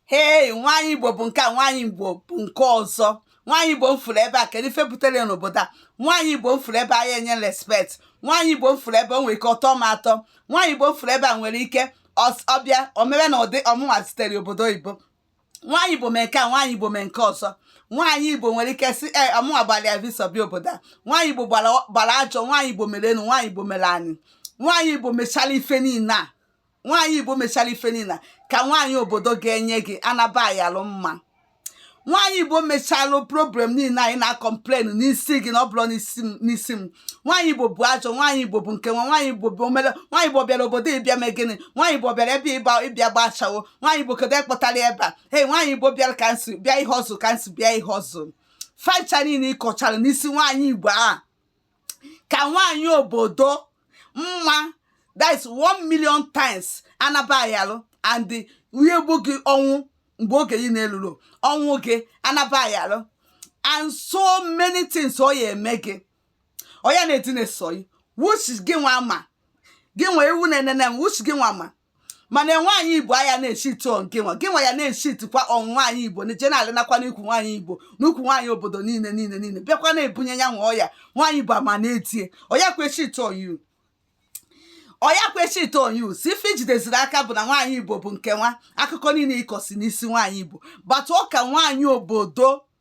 hei nwaanyị igbo bụ nke a nwaanyị igbo bụ nke ọzọ nwaanyị igbo m fụrụ ebe a kedu ife butere n'obodo a nwaanyị igbo m fụrụ ebe a ya enye respect nwaanyị igbo m fụrụ ebe o nwere ike ọtọ m atọ nwaanyị igbo m fụrụ ebe a nwere ike ọs- ọ bịa o mebe na ụdị ọ mụnwa sitere obodo oyibo nwaanyị igbo mee nke a nwaanyị igbo mee nke ọzọ nwaanyị igbo nwere ike sị e ọ mụnwa gbara ya visa bịa obodo a nwaanyị igbo gbara gbara ajọ nwaanyị igbo mere enu nwaanyị igbo mere anị nwaanyị igbo mechara ife niile a nwaanyị igbo mechara ife niile ka nwaanyị obodo ga-enye gị anaba ayalụ mma nwaanyị igbo mechalụ problem niile anyị na-acomplain n'isi gị na ọ bụrụ n'isi m nwaanyị igbo bụ ajọ nwaanyị igbo bụ nke nwa nwaanyị igbo bụ omele nwaanyị igbo bịara obodo ịbịa mee gịnị nwaanyị igbo bịara ebe ịba ịbịa gba ashawo nwaanyị igbo kedu ekpọtara ebe a hey nwaanyị igbo bịara ka nsi bịa ihe ọzụ ka nsi bịa ihe ọzụ fa ncha niile ị kọchara n'isi nwaanyị igbo a ka nwaanyị obodo mma that is one million times anaba ayalụ and ihe gbu gị ọnwụ mgbe oge gị na-elurọ ọnwụ gị anaba ayalụ and so many things ọ ya eme gị ọ ya na-edina eso ọyị which gị nwa ma gị nwa ewu na-enene m which gị nwa ma mana nwaanyị igbo a ya na-echeat gịnwa gịnwa ya na-echeatkwa on nwaanyị igbo na jenalị nakwa n'ukwu nwaanyị igbo n'ukwu nwaanyị obodo niile niile niile bịakwa na-ebunye ya nwa ọya nwaanyị igbo ama na-edie ọ yakwa echeat on you ọ yakwa echeat on you si ife i jideziri aka bụ na nwaanyị igbo bụ nke nwa akụkọ niile ị kọsị n'isi nwaanyị igbo but ọ ka nwaanyị obodo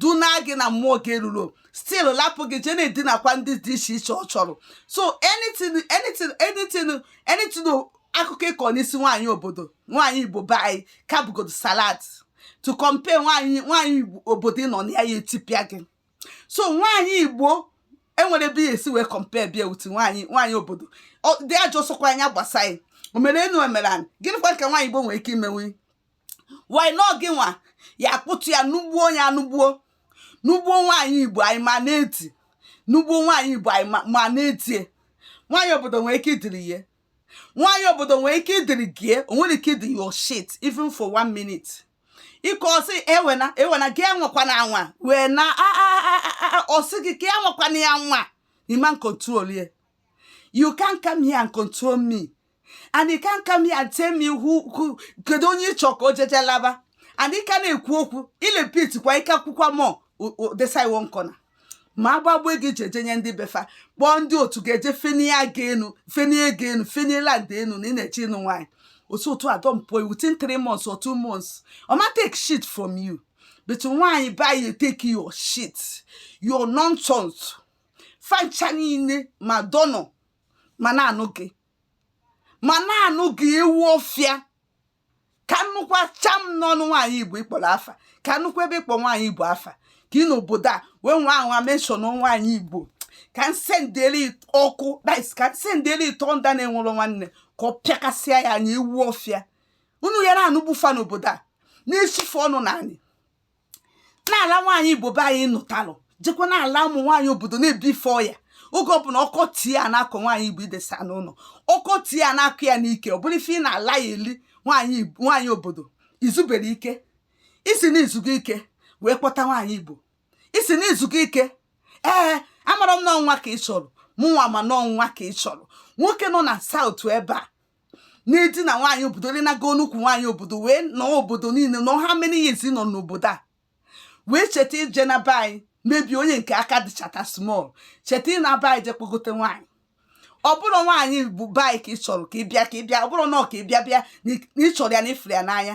dunaa gị na mmụọ oge erurọ still lapụ gị jee na-edinakwa ndị dị iche iche ọ chọrọ so anything anything anything anything akụkọ ị kọ n'isi nwaanyị obodo nwaanyị igbo be anyị ka bụgodu salad to compare nwaanyị nwaanyị obodo ị nọ na ya ya etipịa gị so nwaanyị igbo enwerọ ebe ya esi wee compare ya with nwaanyị nwaanyị obodo dị ajọ sọkwa anya gbasa anyị o mere enu o mere anị gịnịkwa ka nwaanyị igbo nwere ike imenwu why na gị nwa ya akpụtụ ya nugbuo ya nugbuo nugbuo nwaanyị igbo anyị ma na-edi nugbuo nwaanyị igbo anyị ma na-edie nwaanyị obodo nwee ike idiri ihe nwaanyị obodo nwee ike idiri gie o nwerọ ike idi your shit even for one minute ị kọsị ewena ewena gị anwakwana anwa wee na ọ sị gị ka anwakwana ya anwa ị ma control ya you can't come here and control me and you can't come here and tell me who who kedu onye ị chọ ka o jeje laba and ị ka na-ekwu okwu ị repeat kwa ịkọ akụkọ a mọ desai one corner ma agbagbo gị jeje nye ndị be fa kpọọ ndị otu ga-eje fenie aga enu fenie ego enu fenie land enu na ị na-eche ịnụ nwaanyị otu otu a don pụọ within three months or two months ọ ma take shit from you but nwaanyị be anyị ya take your shit your nonsense fa ncha niile ma dọnọ ma na-anụ gị ma na-anụ gị ewu ọfịa ka m nụkwa cham n'ọnụ nwaanyị igbo ị kpọrọ afa ka m nụkwa ebe ị kpọ nwaanyị igbo afa ka ị n'obodo a wee nwaa anwa mention nwaanyị igbo ka m sendere ọkụ dis ka m sendere ị thunder na-enwerọ nwanne ka ọ pịakasịa ya anya ewu ọfịa unu ya na-anụgbufa n'obodo a na-esife ọnụ na anyị na-ala nwaanyị igbo be anyị nụtalụ jekwa na-ala ụmụ nwaanyị obodo na-ebi fa ọya oge ọbụla ọkọ tie ya na-akọ nwaanyị igbo i desa n'ụlọ ọkọ tie ya na-akọ ya n'ike ọ bụrụ ife ị na-ala ya eli nwaanyị obodo i zuberọ ike ị sị na i zugo ike wee kpọta nwaanyị igbo ị sị na i zugo ike ee amara m na ọ nwa ka ị chọrọ mụnwa ma na ọ nwa ka ị chọrọ nwoke nọ na South ebe a na-edina nwaanyị obodo o dinago nnukwu nwaanyị obodo wee nọ obodo niile nọ how many years nọ n'obodo a wee cheta ije na be anyị mebi onye nke aka dịchata small cheta ịna be anyị je kpogote nwaanyị ọ bụrọ nwaanyị bụ be anyị ka ị chọrọ ka ị bịa ka ị bịa ọ bụrụ na ọ ka ị bịa bịa na ị chọrọ ya na ị fụrụ ya n'anya